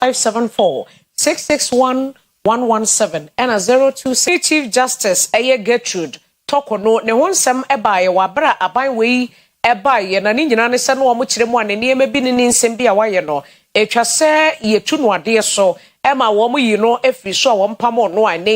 five seven four six six one one one seven ɛna zero two six. Yɛne Chief Justice ɛyɛ Gertrude Tɔko no ne ho nsɛm baeɛ wɔ abere a aban wei baeɛ na ne nyinaa ne sɛ na wɔn kyerɛ mu a ne nneɛma bi ne ne nsɛm bi a wayɛ no ɛtwa sɛ yɛtu no adeɛ so ɛma wɔn yi no firi so a wɔn pamoo no a ɛnɛ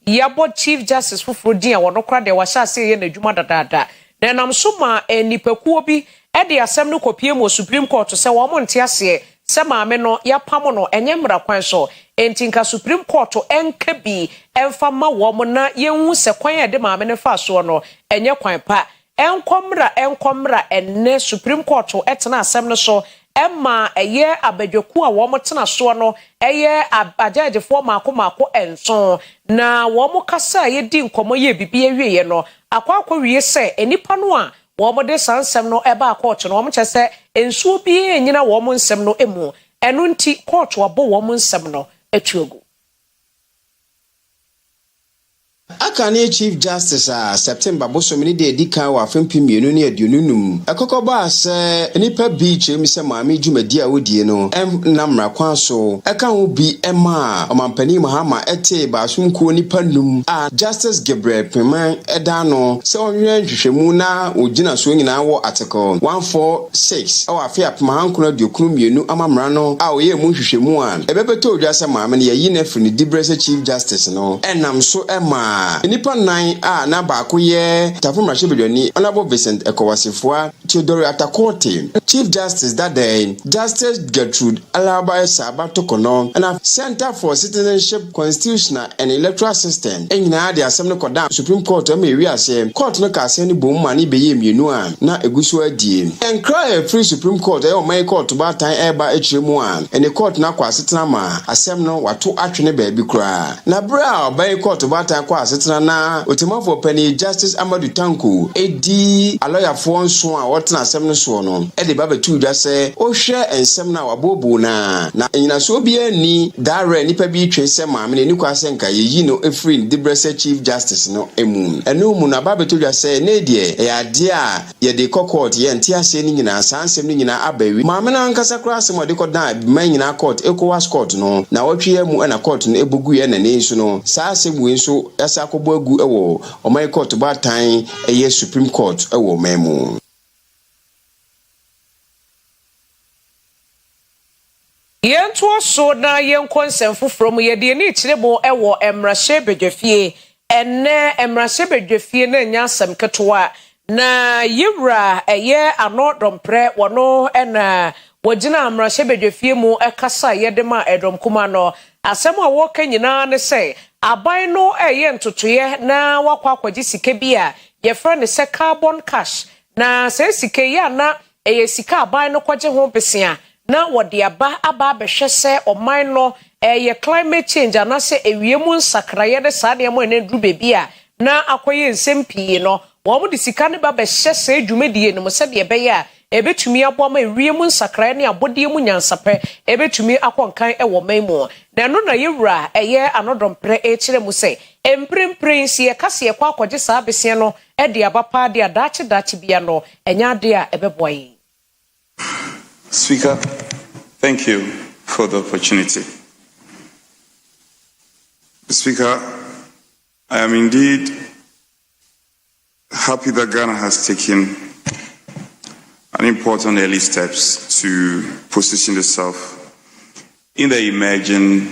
yi yɛabɔ Chief Justice foforɔ din a ɔno koraa deɛ wahyɛ aseɛ yɛ n'adwuma dadaada na ɛnam so maa nnipakuo bi de asɛm no kɔpiem wɔ Supreme Court sɛ wɔn nte aseɛ sɛ maame no yɛapamo no ɛnyɛ mmara kwan so, enti nka Supreme Court nka bi mfa mma wɔn na yɛnhu sɛ kwan a ɛde maame no faa soɔ no ɛnyɛ kwan pa. Ɛnkɔ mmra ɛnkɔ mmra ɛnnɛ Supreme Court tena asɛm no so ɛma ɛyɛ abadwakuo a wɔtena soɔ no yɛ agyɛɛgyefoɔ mmaako mmaako nson, na wɔkasaa yɛ dii nkɔmmɔ yɛɛ biribiara wieeɛ no, akɔ akɔwie sɛ nnipa no a wɔde saa nsɛm no baa kɔɔto no, wɔkyerɛ sɛ nsuo biara nnyina wɔn nsɛm no mu, ɛno nti kɔɔto abɔ wɔn nsɛm no atu agu. Aka ne Chief Justice a September bosome ne deɛ ɛdi kan wɔ afe mpem mmienu ne aduonu num mu ɛkɔkɔ baa sɛ nnipa bi kyerɛ mu sɛ Maame dwumadie a wɔdie no nna mmara kwan so ɛka ho bi maa Ɔmanpanin Mahama tee Baasom kuo nnipa num a Justice Gabriel Kpemah ɛdaa no sɛ ɔnyɛ nhwehwɛmu na wɔn gyinasoɔ nyinaa wɔ Article one four six wɔ afe apem ahankron aduokron mmienu amammerɛ no a ɔyɛɛ mu nhwehwɛmu a Ɛbɛbɛtɔ odwa sɛ Maame no yɛayi no afiri ne diberɛ sɛ Chief Justice no nam so maa nnipa nnan a na baako yɛ Tafo Mmarahyɛbadwani Honourable Vincent Ekow-Assefuah, Theodore Atta Kortey, Chief Justice dada yi, Justice Gertrude Alaba Essah Abatokono, ɛna Centre for Citizenship, constitutional and electoral system nyinaa de asɛm no kɔdaa Supreme Court a ɛma ewie aseɛ Court no kaa asɛm no boom ma ne bɛyɛɛ mmienu a na ɛgu so ara die. Nkra a ɛfiri Supreme Court a ɛyɛ ɔman yi Court baatan reba akyire mu a ɛne Court no akɔ asetena ma asɛm no wato atwene baabi koraa na berɛ a ɔban yi Court baatan kɔɔ asetena na Otemmuafoɔ Panin Justice Amadou Tanko di alɔyafoɔ nson a wɔtena asɛm no soɔ no de ba bɛtoo dwa sɛ wohwɛ nsɛm no a wabooboo no ara na nnyinasoɔ biara nni Da werɛ a nnipa bi retwe sɛ Maame no, enni kwan sɛ anka yeyi no firi ne diberɛ sɛ Chief Justice no mu. Ɛno mu no, aba abɛtɔ dwa sɛ, ɛnnɛ yi deɛ, ɛyɛ adeɛ a yɛde rekɔ court, yɛnte aseɛ no nyinaa, saa nsɛm no nyinaa aba awie. Maame no ankasa koraa asɛm a ɔde kɔdaa Mmaa nyinaa court, Ecowas court no, nnawɔtwe yi ara mu na court no bɔ guiɛ ɛna ɛnnɛ yi nso no, saa asɛm wei nso asan akɔbɔ agu wɔ ɔman yi court baatan, ɛyɛ Supreme Court wɔ ɔman mu. Yɛntoa so na yɛnkɔ nsɛm foforɔ mu. Yɛde ani rekyerɛ mu wɔ mmarahyɛbadwafie. Ɛnnɛ mmarahyɛbadwafie no nyɛ asɛm ketewa. Na yɛn wura ɛyɛ ano dɔmprɛ, wɔno na wɔgyinaa mmarahyɛbadwafie mu kasaeɛ de maa ɛdɔm kumaa no. Asɛm a wɔreka nyinaa ne sɛ aban no reyɛ ntotoeɛ na wɔakɔ akɔgye sika bi a yɛfrɛ no sɛ carbon cash. Na saa sika yi a na Ɛyɛ sika a aban no kɔgye ho bosea na wɔde aba aba abɛhwɛ sɛ ɔman no reyɛ climate change anaasɛ awia mu nsakraeɛ ne saa nneɛma a na aduru baabi a na akɔyɛ nsɛm pii no. Wɔde sika no ba bɛhyɛ saa dwumadie no mu sɛdeɛ ɛbɛyɛ a ɛbɛtumi aboa ma awia mu nsakraeɛ ne abɔdeɛ mu nyansapɛ bɛtumi akɔ nkan wɔ ɔman mu. Na ɛno na yɛn wura a ɛyɛ Anodɔmprɛ rekyerɛ mu sɛ, mprempren sɛ yɛka sɛ yɛkɔ akɔgye saa bosea no de aba paa de a, daakye daakye biara no, ɛnyɛ ade a ɛbɛboa yɛn. Speaker, thank you for the opportunity. Speaker, I am indeed happy that Ghana has taken an important early steps to position itself in the emerging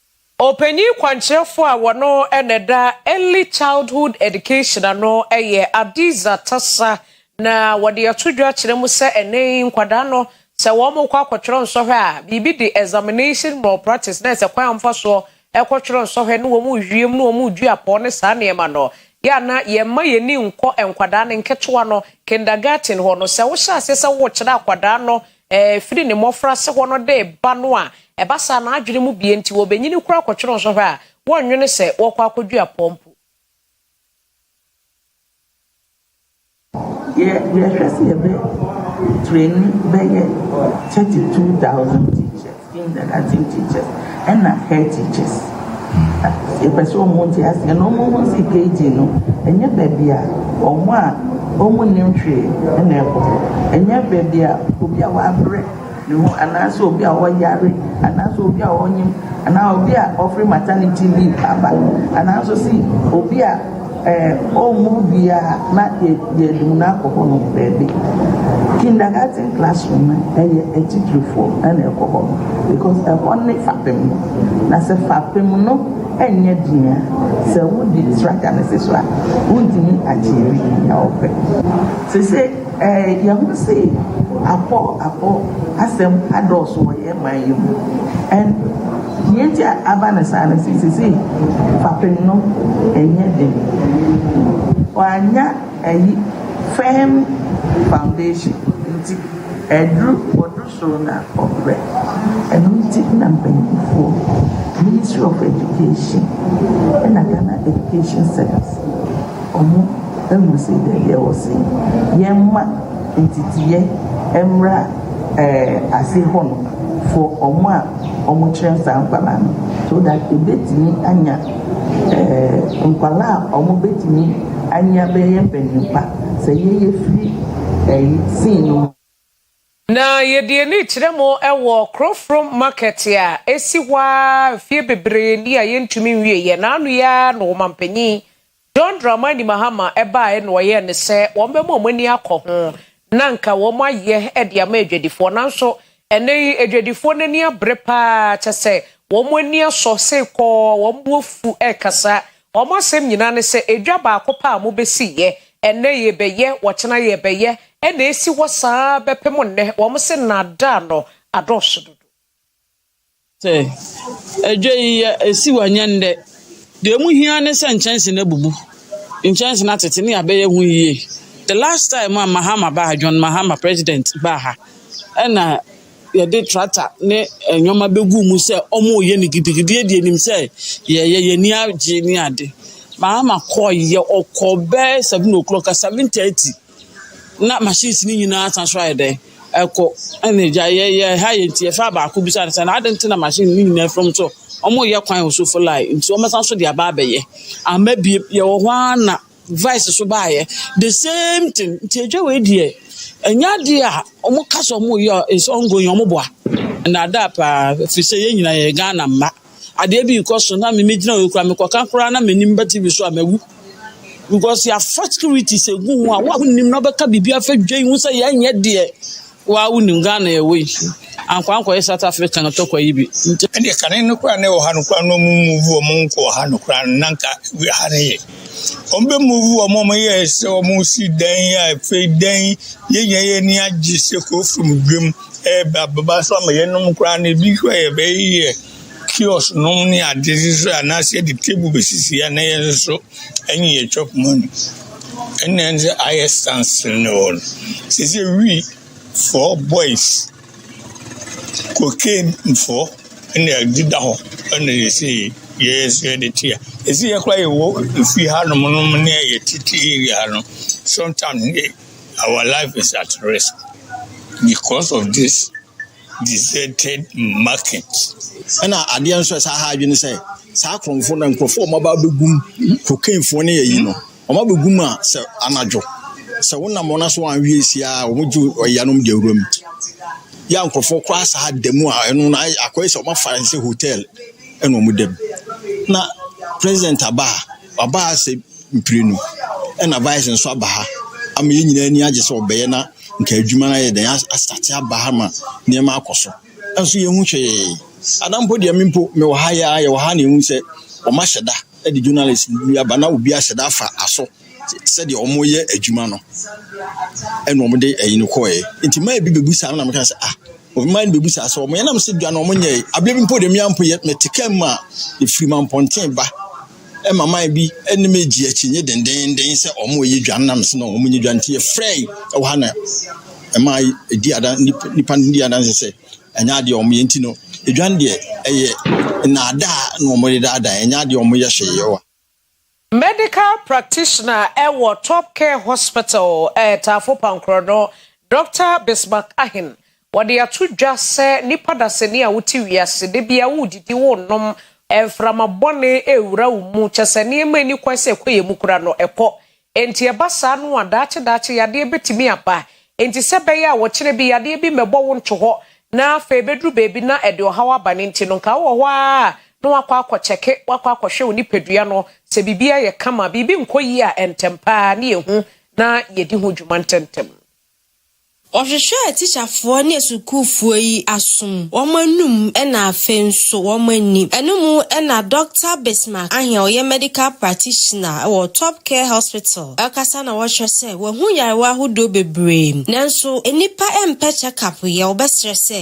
Ɔpanyin kwankyerɛfo a ɔno na ɛda Early Childhood Education ano yɛ Adiza Tassa, na wɔde ato dwa kyerɛ mu sɛ ɛnnɛ yi nkwadaa no sɛ wɔkɔ akɔtwerɛ nsɔhwɛ a, biribi de examination malpractice, nurse, kwan a wɔfa soɔ kɔtwerɛ nsɔhwɛ ne wɔn wie mu ne wɔn redua pɔɔ ne saa nneɛma no. Yɛ a na yɛmma yɛn ani nkɔ nkwadaa no nketewa no, kindergarten, hɔ no, sɛ wohyɛ aseɛ sɛ worekyerɛ akwadaa no Ɛfiri ne mmɔfraase hɔ no de ba no a, ɛba saa na adwene mu bue nti wɔbɛnyini koraa kɔtwene nso hwɛ a, wɔnnwene sɛ wɔrekɔ akɔdua pɔn mpo. Yɛ yɛhwɛ sɛ yɛbɛ traini bɛyɛ thirty two thousand teachers. Standard Latin teachers ɛna head teachers yɛpɛ sɛ ɔmo nte aseɛ na ɔmo hu si KG no ɛnyɛ baabi a ɔmo a ɔmo nim hwee ɛna ɛkɔ ɛnyɛ baabi a obi a wabrɛ ne ho anaasɛ obi a ɔyare anaasɛ obi a ɔnyem anaa obi a ɔfiri maternity leave aba anaa nso si obi a Ɔmmu wie a na yɛde mu no akɔ hɔ nom baabi. Kindergarten classroom no ɛyɛ atitirifoɔ na ɛkɔ hɔ nom because ɛhɔ ne fapem no. Na sɛ fapem no ɛnyɛ den a sɛ wode structure no si so a wontumi achieve nea wopɛ. Sesei. Yɛahu se akɔ akɔ asɛm adɔɔso wɔ yɛn man yi mu. Deɛ nti a aba no saa ne se, seesei fapem no ɛnyɛ den. Wɔannya ayi firm foundation nti, ɛduru wɔduru. soro na ɔbrɛ. Ɛno nti na mpanyinfoɔ, Ministry of Education ɛna Ghana Education Service, ɔmo ahunu sɛ dɛbi ɛwɔ sɛ yɛma nteteeɛ ɛmmra ɛɛ ase hɔ nom for ɔmo a ɔmo kyerɛ saa nkwadaa no so that ebetumi anya ɛɛ nkwadaa a ɔmo betumi anya bɛyɛ mpanyin pa sɛ yɛyɛ firi ɛyi sin no mu. Na yɛde ani rekyerɛ mo wɔ Krofrom Market a esi hɔ ara mfeɛ bebree ni a yɛntumi nwieeɛ. Na ano yi ara na Ɔmanpanyin John Dramani Mahama baeɛ na ɔyɛɛ no sɛ wɔbɛma wɔn ani akɔ ho na anka wɔayɛ de ama adwadifoɔ. Nanso ɛnnɛ yi adwadifoɔ no ani abere pa ara kyɛ sɛ wɔn ani asɔ seekɔɔ, wɔn bo afu rekasa. Wɔn asɛm nyinaa ne sɛ edwa baako pɛ a mobɛsi yɛ, ɛnnɛ yɛrebɛyɛ, ɔkyena yɛrebɛyɛ, ɛna ɛsi hɔ saa ara bɛpem nnɛ. Wɔn se nnaadaa no adɔɔso dodo. Sɛ edwa yi yɛ, ɛsi hɔ ɛnyɛ nnɛ, deɛ ɛmu hia ara ne sɛ nkyɛnse no abubu, nkyɛnse no atete ne abɛyɛ ho yie. The last time a Mahama baa ha, John Mahama, president, baa ha, ɛna yɛde tractor ne nneɛma bɛgu mu sɛ wɔreyɛ no gidigidi de anim sɛ yɛyɛ yɛn ani agye ne ade. Maama kɔeɛ, ɔkɔ bɛyɛ seven o'clock a seven thirty na machines no nyinaa san so ayɛ dɛn ɛkɔ ɛna agya yɛ yɛ ha yɛ nti yɛfaa baako bisa no sɛ na ade nti na machine no nyinaa fam so wɔreyɛ kwan wɔ so for line nti wɔsan so de aba abɛyɛ ama bie yɛwɔ hɔ ara na vice so baayɛ the same thing nti adwa wei deɛ ɛnyɛ adeɛ a wɔn ka sɛ wɔn yɛ is ongoing wɔn boa nnaadaa paa fi sɛ yɛn nyinaa yɛ Ghana mma adeɛ bi kɔ so na mimi gyina wei kura mekɔka koraa na m'anim ba TV so a mawu because yɛafa security sɛ gu ho a woahonim na ɔbɛka biribi afɛ dwa yi ho sɛ yɛnyɛ deɛ Wo ara wonim Ghana yɛwɔ yi. Ankoa ankɔyɛ South Africa no tɔkwa yi bi nti. Ɛndeɛ kane no koraa na ɛwɔ ha no koraa na ɔmo move ɔmo nkɔɔ ha no koraa no na nka ha no yɛ ɔmo bɛ move ɔmo ɔmo yɛ sɛ ɔmo si dan yi a afei dan yi yɛ nyɛ yɛ ni agye sɛ kuro from dwam ɛɛba bɛba so ama yɛnom koraa no ebi koraa yɛ bɛyɛ kiosk nom ne ade nso a anaasɛ yɛde table bɛsisi a na yɛn nso ɛne yɛn chop money. Ɛnna ɛnde ayɛ standstill no hɔ no. Seesei we four boys, cocaine foɔ ɛnna ɛdeda hɔ ɛnna yɛsei yɛn nso yɛde te a. Ɛsei yɛ koraa yɛwɔ efie hanom nom ne yɛ tete area ha no, sometimes ne our life is at risk because of this. deserted market ɛna adeɛ nso ɛsɛ ha adwene sɛ saa akorɔmfoɔ na nkurɔfoɔ ɔmo aba abɛgum kokaifoɔ ne yɛyi no ɔmo abɛgum a sɛ anadwo sɛ wonam wɔn aso anwie si a ɔmo gye ɔyanom de awura mu yɛ a nkurɔfoɔ kɔ asaa da mu a ɛno na akɔyɛ sɛ ɔmo afa sɛ hotel ɛna ɔmo da mu na president aba a ɔba ha sɛ mprenu ɛna vice nso aba ha ama yɛn nyinaa ani agye sɛ ɔbɛyɛ na nka adwuma no ayɛ dɛn asate aba ha ma nneɛma akɔ so nso yɛhu hwee ada mpo deɛ me mpo mewɔ ha yɛ a yɛwɔ ha na ɛhu sɛ wɔn ahyɛ da de journalist bi aba na obi ahyɛ da afa aso sɛdeɛ wɔyɛ adwuma no ɛna wɔde ɛyi no kɔɛ nti maa ebi bebu saa na meka sɛ ah obi maa no bebu saa sɛ wɔn yɛnam sɛ dwa na wɔn nyɛ abirɛ bi mpo deɛ mmea mpo yɛ mɛte kaa mu a efiri ma mpɔnten ba. ma man bi ne me gye akyinnye dendenden sɛ wɔn a wɔyɛ dwan nam so na wɔn nyɛ dwan nti yɛfrɛ yi wɔ ha na ɛma ɛdi adan nipa no di adanse sɛ ɛnyɛ adeɛ wɔn yɛ nti no dwan deɛ ɛyɛ nnaadaa na wɔn de daadaa ɛnyɛ adeɛ wɔn yɛ hwee yɛ wa. Medical practitioner wɔ Top Care Hospital, Taafo Pankorɔ no, Dɔkta Bismark Ahen Wɔde ato dwa sɛ nnipa dasani a wote wiase, da biara woredidi, worenom, mframa bɔne rewura wo mu, kyerɛ sɛ nneɛma a enni kwan sɛ ɛkɔ yɛn mu koraa no, ɛkɔ. Enti ɛba saa no a, daakye daakye yadeɛ betumi aba. Enti sɛ ɛbɛyɛ a ɔkyena bi yadeɛ bi mmɛbɔ wo nto hɔ na afei ebeduru baabi na ɛde ɔhaw aba no nti no, nka wowɔ hɔ ara a na woakɔ akɔkyɛke, woakɔ akɔhwɛ wo nipadua no sɛ biribi ayɛ kama. Biribi nkɔ yie a, ntɛm pa ara na yɛhu na yɛdi ho dwuma ntɛmntɛm. Wɔhwehwɛɛ tikyafoɔ ne asukuufoɔ yi asom, wɔn anum na afei nso wɔn ani. Ɛno mu na Dɔkta Bismark Ahe a ɔyɛ Medical Practitioner wɔ Top Care Hospital kasa na ɔkyerɛ sɛ wahu nyarewa ahodoɔ bebree nanso nnipa mpɛ check-up yɛ, wɔbɛsrɛ sɛ.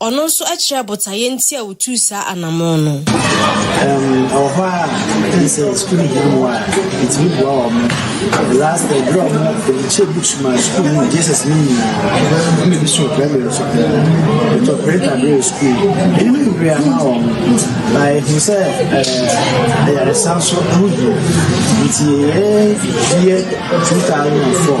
Ɔno nso kyerɛɛ botaeɛ nti a ɔtuu saa anammɔn no. Ɛwɔ hɔ a ɛne sɛ sukuu no hia mmoa a ɛtumi boa wɔ mo. Last year, berɛ a wɔkyɛ books ma sukuu no Jesus no nyinaa, ɛna bi so primary so koraa. Ɛtɔ printer berɛ wɔ sukuu no. Ɛno ne bebree ama wɔ mo. Na ɛhu sɛ ɛyaresan so ho hia. Nti yɛyɛ year 2004.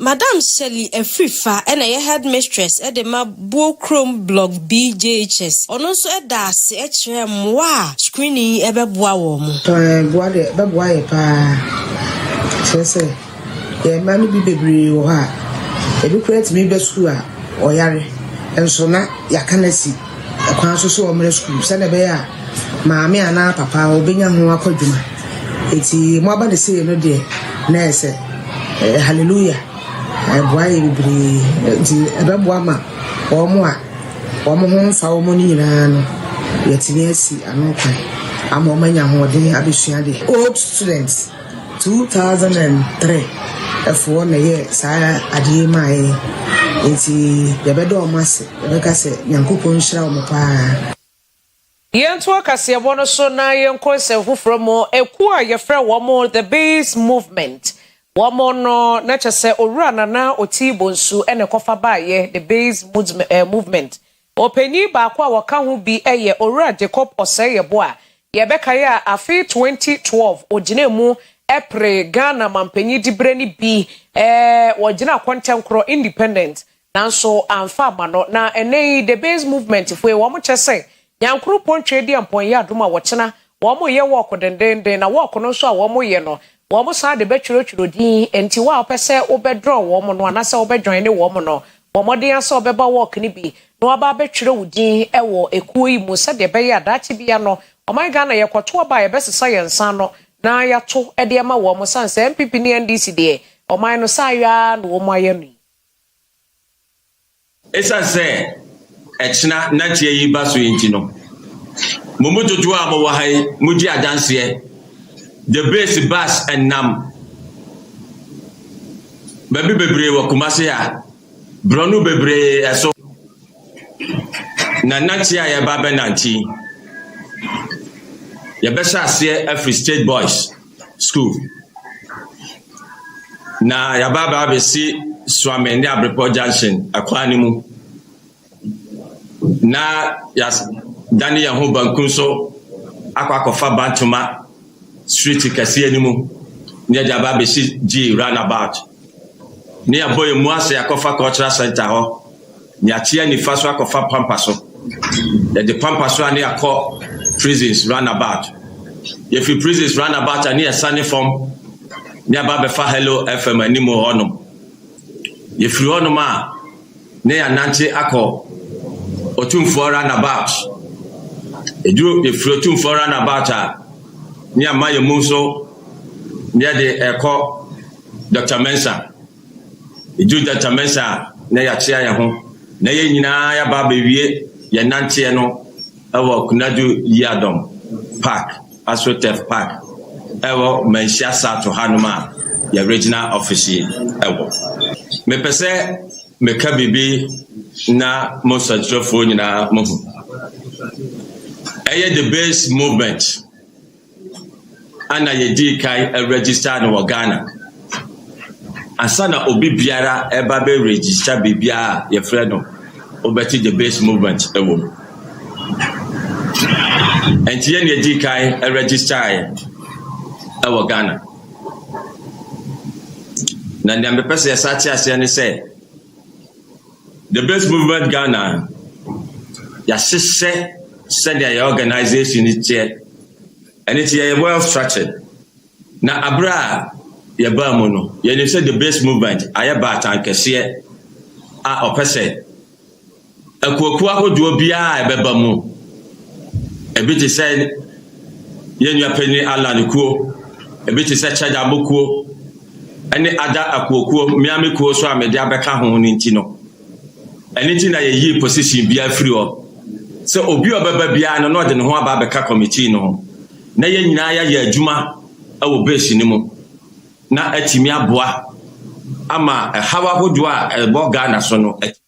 Madam Shirley Afrifa na ɛyɛ headmistress de ma Buo Kurom Block B JHS. Ɔno nso da ase kyerɛ mmoa a screening yi bɛboa wɔn. Ɛboa deɛ ɛbɛboa yɛn pa ara. Kyerɛ sɛ, yɛn mma no bi bebree wɔ hɔ a, ebi koraa tumi ba sukuu a ɔyare, nso na yɛaka no asi. kwan so sɛ wɔmmra sukuu sɛdeɛ ɛbɛyɛ a maame anaa papa ɔbɛnya ho akwadwuma. Eti mo aba ne sei no deɛ na ɛyɛ sɛ eh, hallelujah ɛboa yɛ bebree nti ɛbɛboa ma wɔn a wɔn ho mfa wɔn no nyinaa no yɛtumi asi ano kwan ama wɔn anya ahoɔden abɛsua adeɛ. Old students. Two thousand and three ɛfoɔ na ɛyɛ saa adeɛ yi maa yɛn nti yɛbɛda wɔn ase yɛbɛka sɛ nyankopɔn nhyira wɔn paa. Yɛnto akaseɛbɔ no so na yɛnkɔ nsɛm foforɔ mu. Ekuo a yɛfrɛ wɔn The Base Movement, wɔn no na kyɛ sɛ Owura Nana Otii Bonsu na ɛkɔfa baeɛ, The Base Movement Ɔpanyin baako a ɔka ho bi yɛ Owura Jacob Osei-Yeboah a yɛbɛkae a afe 2012 ɔgyinaa mu peree Ghana mampanyin diberɛ no bi, ɔgyinaa Kɔntɛnkorɔ, Independent, nanso amfa amma no. Na ɛnnɛ yi The Base Movement foɔ yi, wɔkyerɛ sɛ Nyankoro Pontwe Adiampong Yɛ Adom a wɔkyena Wɔreyɛ wɔɔk dendeenden, na wɔɔk no nso a wɔreyɛ no, wɔsan de bɛtwerɛtwerɛ din. Enti wo a wopɛ sɛ wobɛdrɔɔ wɔn no anaasɛ wobɛdwaine wɔn no, bɔ mmɔden ara sɛ wobɛba wɔɔk no bi na woaba abɛtwerɛ wo din wɔ ekuo yi mu sɛdeɛ ɛbɛyɛ a daakye biara no ɔman Ghana yɛkɔto aba a yɛbɛsesa yɛn nsa ano na yɛato de ama wɔn ɛsiane sɛ NPP ne NDC deɛ ɔman no saa ara na wɔayɛ no yi. Esiane sɛ ɛkyena na teɛ yi ba so yi nti no, mo mu dodoɔ a mowɔ ha yi mogye adanseɛ. The Base Bus nam baabi bebree wɔ Kumasi a borɔno bebree so na nante a yɛba abɛnante yi. Yɛbɛhyɛ aseɛ afiri State Boys. school na yɛaba aba abɛsi Suame ne Abrepɔ junction ɛkwan no mu na yɛadane yɛn ho banku so akɔ akɔfa Bantoma street kɛseɛ no mu na yɛde aba abɛsi G roundabout na yɛabɔ yɛn mu ase akɔfa cultural center hɔ. Yɛakyea nifa so akɔfa pampa so. Yɛde pampa so a ne yɛakɔ prisons roundabout. Yɛfiri prisons roundabout a ne yɛsane fam ne yɛaba abɛfa Hello FM anim hɔ nom. Yɛfiri hɔ nom a ne yɛanante akɔ Otumfoɔ roundabout. Yɛduru yɛfiri Otumfoɔ roundabout a ne yɛama yɛn mu nso ne yɛde ɛrekɔ Doctor Mensah. Eduru Gyatsamesa a na yɛakyea hɛnho na hɛn nyina yɛaba abewie hɛn nantseɛ no wɔ Kunadu Yiadom Park, Asrotef Park, wɔ Manhyia Sato hanom a yɛn regional office yi wɔ. Mepɛ sɛ meka biribi na mo nsɛnkyerɛfoɔ nyinaa mohu. Ɛyɛ the base movement. ana yɛdii kan register no wɔ Ghana. Ansa na obi biara ɛba bɛ register biribiara a yɛfrɛ no wobɛte the base movement ɛwɔ mu. Ɛnti yɛn na yɛdii kan register ɛwɔ Ghana. Na nea mepɛ sɛ yɛsa te aseɛ ne sɛ, The Best Movement Ghana, yɛahyehyɛ sɛdeɛ yɛn organisation no teɛ, ɛno nti yɛyɛ well structured, na aberɛ a yɛbaa mu no, yɛnim sɛ The Best Movement ayɛ baatan kɛseɛ a ɔpɛ sɛ akuakuo ahodoɔ biara a ɛbɛba mu, ebi te sɛ, Yɛn nua panyin Allan kuo, ebi te sɛ Chadabo kuo, ne Ada Akuo kuo, Miami kuo nso a mede abɛka ho no nti no, ɛno nti na yɛyii position biara firi hɔ sɛ obi a ɔbɛba biara no na ɔde ne ho aba abɛka committee no ho na yɛn nyinaa yɛayɛ adwuma wɔ base no mu na atumi aboa ama ɛhaw ahodoɔ a ɛbɔ Ghana so no atumi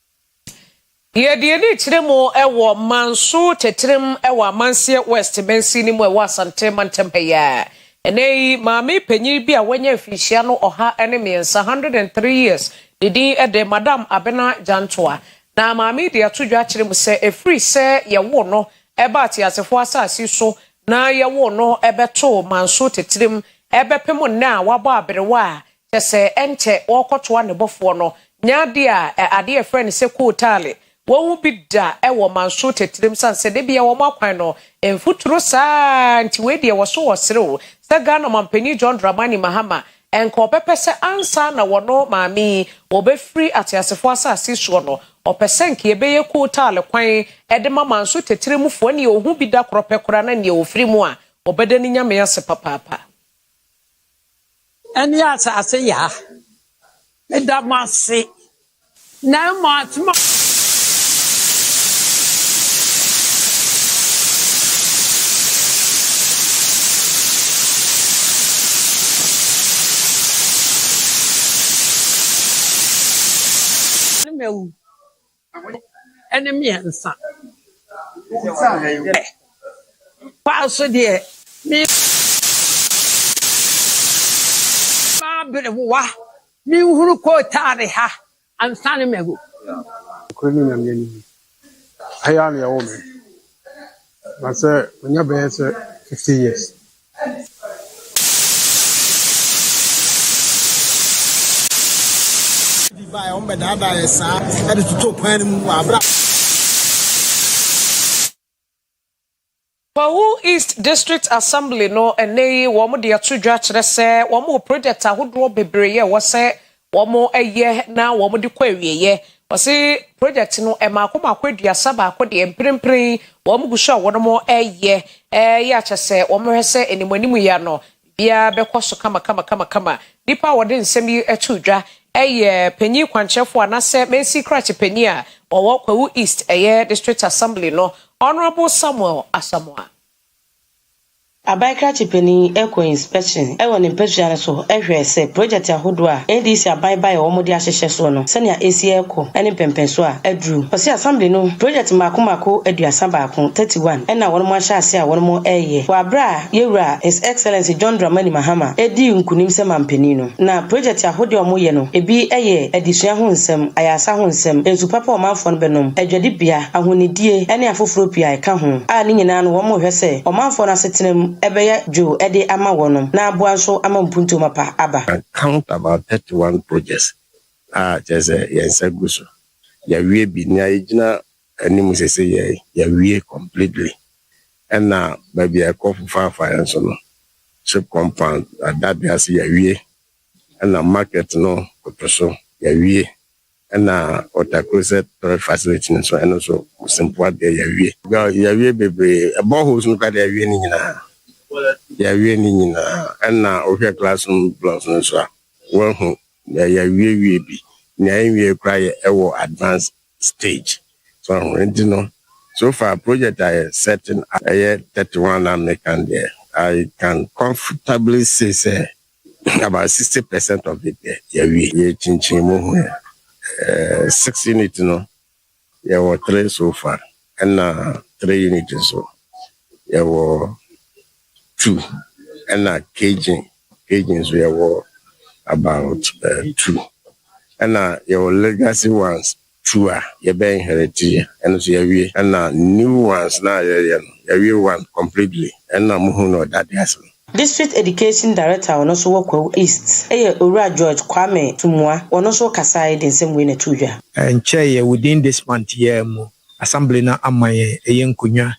Yɛ deɛ yɛde rekyerɛ mu wɔ Manso Tɛtrɛm wɔ Amanseɛ West Mansini no mu a ɛwɔ Asante Mantam ha yi ara. Ɛnnɛ yi, maame panyin bi a wanya mfirihyia no ɔha ne mmiɛnsa, 103 years, ne din de Madam Abena Gyantoa. Na maame yi de ato dwa akyerɛ mu sɛ ɛfiri sɛ yɛwoo no baa teasefoɔ asase so na yɛwoo no bɛtoo Manso Tɛtrɛm bɛpem nnɛ a wabɔ aberewa a kyɛ sɛ ɛnkyɛ wɔrekɔtoa ne bɔfoɔ no, nyɛ adeɛ a ɛ adeɛ a yɛfrɛ no sɛ kootaale. Wɔn mu bi da wɔ manso tɛtirem sane sɛ da biara wɔn akwan no mfuturo saa ara nti wei deɛ wɔso wɔ serew sɛ Ghana Ɔmanpanin John Dramani Mahama nka ɔbɛpɛ sɛ ansa na wɔno maame yi wɔbɛfiri ateasefoɔ asase soɔ no ɔpɛ sɛ nka yɛbɛyɛ kootaale kwan de ma manso tɛtirem foɔ neɛ ɔhu bi da korɔ pɛ koraa na neɛ ɔfiri mu a ɔbɛda ne Nyame ase papaapa. ɛne asase yaa. Meda mo ase, na mmom asɛm a. ne mmiɛnsa ɛ paa so deɛ me maa bere wowa me nhuru kootaare ha ansa ne magu. Nokorɛ ne Nyame anim, ha yi ara na yɛwoo me. Na sɛ onya bɛyɛ sɛ fifty years. Bi baa yɛ wɔn bɛdaadaa yɛ saa ɛde toto kwan no mu wɔ abira. Kwahu East District Assembly no ɛnnɛ yi wɔn de ato dwa akyerɛ sɛ wɔn wɔ project ahodoɔ bebree a ɛwɔ sɛ wɔyɛ na wɔde kɔ awieɛ. Ɔse project no mmaako mmaako aduasa baako deɛ mprempren wɔn gu so a wɔnom yɛ yɛ akyɛ sɛ wɔn hwɛ sɛ anim anim yi ano biara bɛkɔ so kama kama kama kama. Nipa a wɔde nsɛm yi to dwa yɛ panyin kwankyerɛfoɔ anasɛ Mensi krakye panyin a ɔwɔ Kwawu East ɛyɛ District Assembly no Honourable Samuel Asamoah. Aban krakye panyin kɔ inspection wɔ ne mpasua no so hwɛ sɛ project ahodoɔ a NDC aban baeɛ a wɔde ahyehyɛ soɔ no sɛnea ɛsi rekɔ ne mpɛnpɛnsoɔ a aduru. Ɔse assembly no project mmaako mmaako aduasa baako, thirty one, ɛna wɔnom ahyɛ aseɛ a wɔnom reyɛ wɔ aberɛ a Yɛwura His Excellency John Dramani Mahama dii nkunim sɛ manpanin no. Na project ahode a wɔyɛ no ebi yɛ adesua ho nsɛm, ayarsa ho nsɛm, nsu papa a ɔmanfoɔ no bɛnom, adwadibea, ahonidie ɛne afoforɔ pii a ɛka ho a ne nyinaa no wɔrehwɛ sɛ ɔmanfoɔ no asetena mu bɛyɛ dwo de ama wɔnom na aboa nso ama mpuntuo mapa aba. And count about thirty one projects a kyerɛ sɛ yɛn nsa gu so. Yɛawie bi, nea yɛgyina Ɛne mu sɛ sɛ yɛawie completely ɛna baabi a ɛkɔ fofaafa yɛn nso no ship compound adade ase yɛawie ɛna market no koto so yɛawie ɛna water closet storage facility no nso ɛno nso Simpoa deɛ yɛawie. Yɛawie bebree boreholes no koraa deɛ yɛawie ne nyinaa yɛawie ne nyinaa ɛna wohwɛ classroom blocks no nso a woahu deɛ yɛawiewie bi nea ɛnwie koraa yɛ ɛwɔ advance stage so ho nti no so far project a yɛ setting up ɛyɛ thirty one na me kan deɛ I can comfortably say sɛ about sixty percent of it deɛ yɛ wie yɛ kyinkyin mu ho yɛ six unit no yɛ wɔ three so far ɛna three unit nso yɛ wɔ. two ɛna Cajun Cajun nso yɛwɔ about uh, two ɛna yɛwɔ legacy ones two a yɛbɛ inherit yɛ ɛno nso yɛwie ɛna new ones na yɛyɛ no yɛwie one completely ɛna mo hu na ɔdade ase no. District Education Director a ɔno nso wɔ Kwawu East yɛ Owura George Kwame Tumua, ɔno nso kasae de nsɛm wei na ɛtoo dwa. Ɛnkyɛeɛ within this month yi ara mu, Assembly no ama yɛn ɛyɛ nkonnwa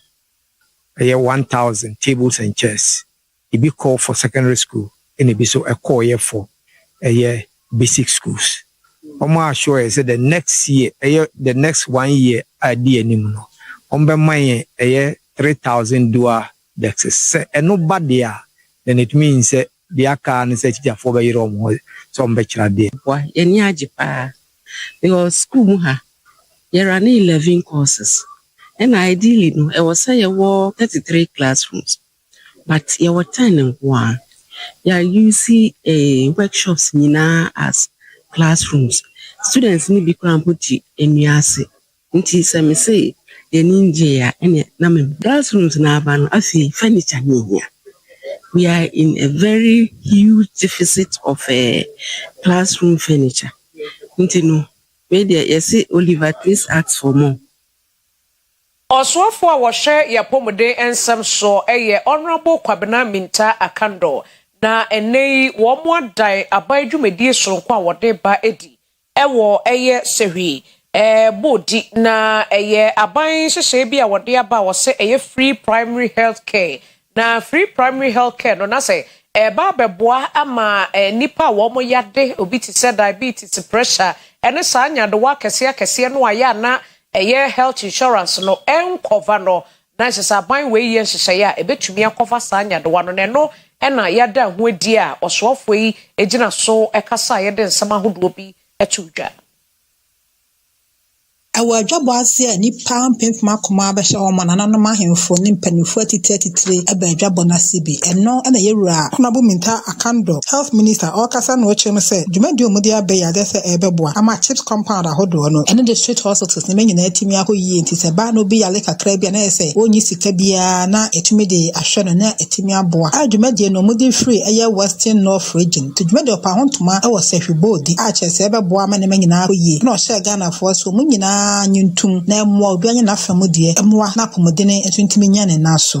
Bɛyɛ one thousand tables and chairs, ebi kɔɔ for secondary school ɛna ebi nso ɛkɔɔyɛ for ɛyɛ basic schools. Wɔn a assure yɛn sɛ the next year ɛyɛ the next one year a ɛdi yɛn anim no wɔn bɛma yɛn ɛyɛ three thousand dual desks. Sɛ ɛno ba deɛ a then it means sɛ Deɛ aka ara ne sɛ akyikyafoɔ bɛyere wɔn ho sɛ wɔbɛkyere adeɛ. Boa, yɛn ani agye paa because sukuu mu ha yɛ runne eleven courses ɛna ideally no ɛwɔ sɛ yɛwɔ thirty three classrooms but yɛwɔ ten nko ara. Yɛ use workshops nyinaa as classrooms. Students no bi koraa mpo te nnua ase. Nti sɛ me se yɛn ani ngye a ɛneɛ na me. Class rooms no aba no afei furniture no nhia we are in a very huge deficit of class room furniture nti no wei deɛ yɛse Oliver twist ask for more. Ɔsoafoɔ a wɔhwɛ yɛn apɔmuden nsɛm soɔ yɛ Honourable Kwabena Mintah Akandor, na ɛnnɛ yi wɔadan aban dwumadie soronko a wɔde ba adi Ɛwɔ ɛyɛ sɛhwi, ɛɛ bɔ di na ɛyɛ aban nhyehyɛɛ bi a wɔde aba a wɔsɛ ɛyɛ free primary health care na free primary health care no nasɛ ɛɛba abɛboa ama ɛɛ nipa a wɔn yade obi te sɛ diabetes, pressure ɛne saa nyadewa akɛseɛ akɛseɛ no a yɛ a na ɛyɛ health insurance no ɛnkɔva no na ɛsɛ sɛ aban wei yɛ nhyehyɛe a ebetumi akɔfa saa nyadewa no, na ɛno na yɛada ho adi a ɔsoafoɔ yi gyina so kasa a yɛde nsɛm ahodoɔ bi too dwa. Ɛwɔ adwabɔ ase a nnipa mpempem akoma abɛhyɛ hɔ ma nananom ahemfo ne mpanyimfo atitire atitire ba adwabɔ no ase bi. Ɛno na ɛyɛ Wura Konabo Mintah Kandor, Health Minister, ɔrekasa na ɔkyerɛm sɛ dwumadie a wɔde aba yi adeɛ sɛ ɛrebɛboa ama CHPS compound ahodoɔ no ɛne district hospitals no nyinaa atumi akɔ yie nti sɛ ɛba na obi yare kakra bi a na ayɛ sɛ ɔnni sika biara na ɛtumi de ahwɛ no na atumi aboa a dwumadie no wɔde firi ɛyɛ Western North region nti dwumadie ɔpaa ho ntoma wɔ sahwi bɔɔ di a kyerɛ sɛ ɛbɛboa ama nneɛma nyinaa akɔ yie ɛna ɔhyɛɛ Ghanafoɔ sɛ wɔn nyinaa nye ntom na ɛmmoa obiara nyɛ n'afa mu deɛ ɛmmoa na apɔmuden nso ntumi nnya ne nan so.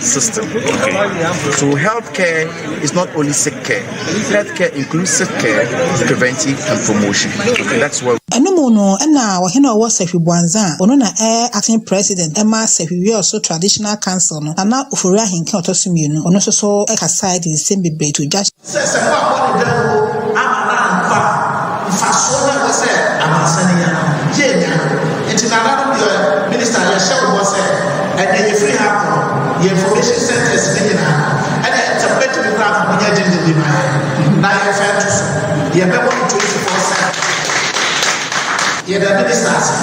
system okay so health care is not only sick care health care includes sick care preventive and promotion okay that's what. ɛno mu no ɛna ɔhene ɔwɔ sahwi buanza a ɔno na ɛyɛ acting president ɛma sahwi wiɔso traditional council no nana ofori ahenke ɔtɔ so mmienu ɔno nso so ɛkasae de nsɛm bebree to dwa Sɛ sɛ fa bɔ ne dawuro ama no ampa mfasoɔ no ɛwɔ sɛ amansa no nya no yɛ nya no nti nana no deɛ minista yɛhyɛ wo bɔ sɛ ɛnɛ yɛfiri ha kɔ yɛ information centers no nyinaa no ɛnɛ sɛ wobɛtumi koraa ma monyɛ gye ne bi ma yɛ na yɛmfa nto so yɛbɛbɔ no 24 sɛ yɛda minista ase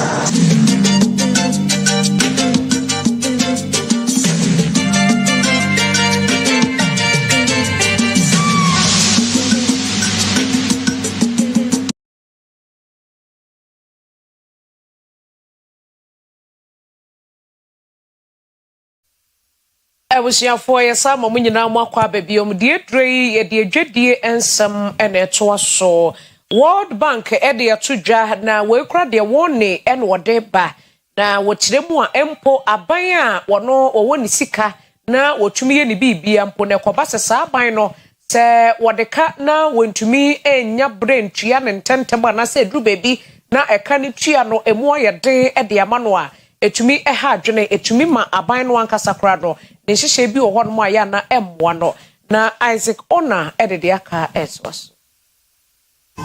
abusuafoɔ yɛsa ama mo nyinaa mo akɔ aba biom deɛ aduro yi yɛde adwadie nsɛm na ɛtoa so world bank de ato dwa na wɔakura deɛ wɔne ɛna ɔde ba Na wɔkyerɛ mu a, mpo aban a wɔno wɔwɔ ne sika na wɔtumi yɛ ne biribia mpo, na ɛkɔba sɛ saa aban no, sɛ wɔde ka na wɔntumi nnya berɛ ntua no ntɛmntɛm anaasɛ ɛduru baabi na ɛka no tua no, ɛmu ayɛ den de ama no a, ɛtumi ha adwene, ɛtumi ma aban no ankasa koraa no, ne nhyehyɛe bi wɔ hɔnom a ɛyɛ a na ɛmmoa no. Na Isaac Oner de deɛ aka a ɛtoa so.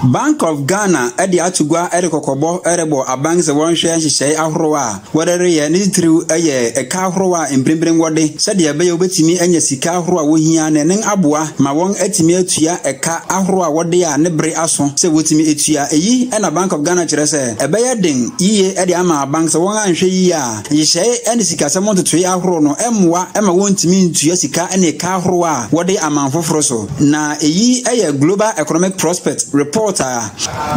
Bank of Ghana de ato gua de kɔkɔbɔ rebɔ aban sɛ wɔnhwɛ nhyehyɛe ahorow a wɔde reyɛ ne titiriw yɛ ɛka ahorow a mprempren wɔde sɛdeɛ ɛbɛyɛ wobetumi anya sika ahorow a wohia no ɛnen aboa ma wɔn atumi atua ɛka ahorow a wɔde a ne bere aso sɛ wotumi tua eyi na Bank of Ghana kyerɛ sɛ ɛbɛyɛ den yiye de ama aban sɛ wɔn anhwɛ yiye a nhyehyɛe ne sikasɛm ntotoe ahorow no mmoa ma wontumi ntua sika ne ɛka ahorow a wɔde aman foforo so. Na eyi yɛ Global Economic Prospect report a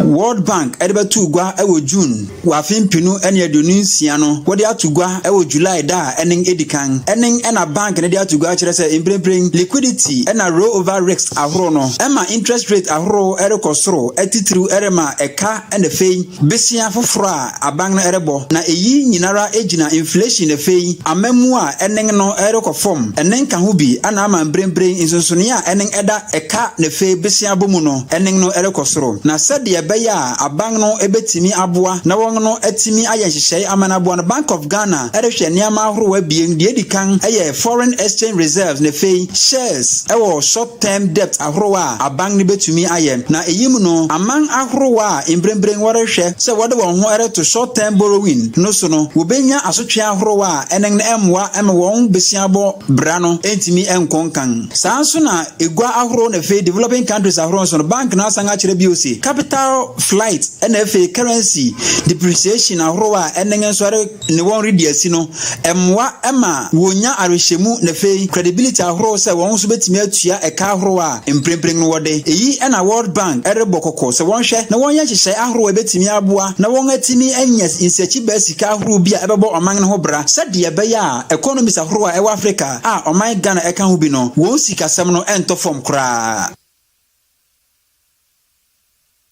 World Bank de bɛtoo gua wɔ June wɔ afe mpenu ne aduonu nsia no, wɔde ato gua wɔ July da a ɛne edi kan. Ɛne na bank no de ato gua kyerɛ sɛ mprempren liquidity na rollover risks ahorow no ma interest rate ahorow rekɔ soro titiriw rema ɛka na afei besia foforɔ a aban no rebɔ, na eyi nyinara gyina inflation afei amammuo a ɛnen no rekɔ fɔm, ɛnen ka ho bi ɛna ama mbrenbren nsonsoneɛ a ɛnen ɛda ɛka nafei besia bɔ mu no ɛnen no rekɔ soro. Na sɛdeɛ ɛbɛyɛ a aban no betumi aboa na wɔn no atumi ayɛ nhyehyɛe ama no aboa no Bank of Ghana rehwɛ nneɛma ahorow abien, deɛ edi kan yɛ foreign exchange reserves nafei shares wɔ short term debt a. ahorow a aban no betumi ayɛ. Na eyi mu no, aman ahorow a mprempren wɔrehwɛ sɛ wɔde wɔn ho reto short term borrowing no so no, wobenya asotwe ahorow a ɛne no mmoa mma wɔn bosiabɔ bra no ntumi nkɔ nkan. Saa ara nso na gua ahorow na afei developing countries ahorow nso no, bank no asan akyerɛ bio se capital flight na afei currency depreciation ahorow a ɛne nso ne wɔn redi asi no mmoa ma wɔnya awerehyɛmu na afei credibility ahorow sɛ wɔn nso betumi atua ɛka ahorow a mprempren no wɔde. Eyi na World Bank rebɔ kɔkɔ sɛ wɔnhwɛ na wɔnyɛ nhyehyɛe ahorow a ebetumi aboa na wɔatumi anya nsiakyibaa sika ahorow bi a ɛbɛbɔ ɔman no ho bra sɛdeɛ ɛbɛyɛ a economies ahorow a ɛwɔ Afrika a ɔman Ghana ɛka ho bi no wɔn sikasɛm no ntɔ fam koraa.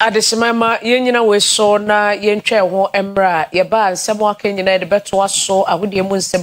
Adesemai ma yɛn nyina wei so na yɛntwa ɛho mmerɛ a yɛba a nsɛm a aka nyina yɛde bɛtoa so ahodeɛ mu nsɛm.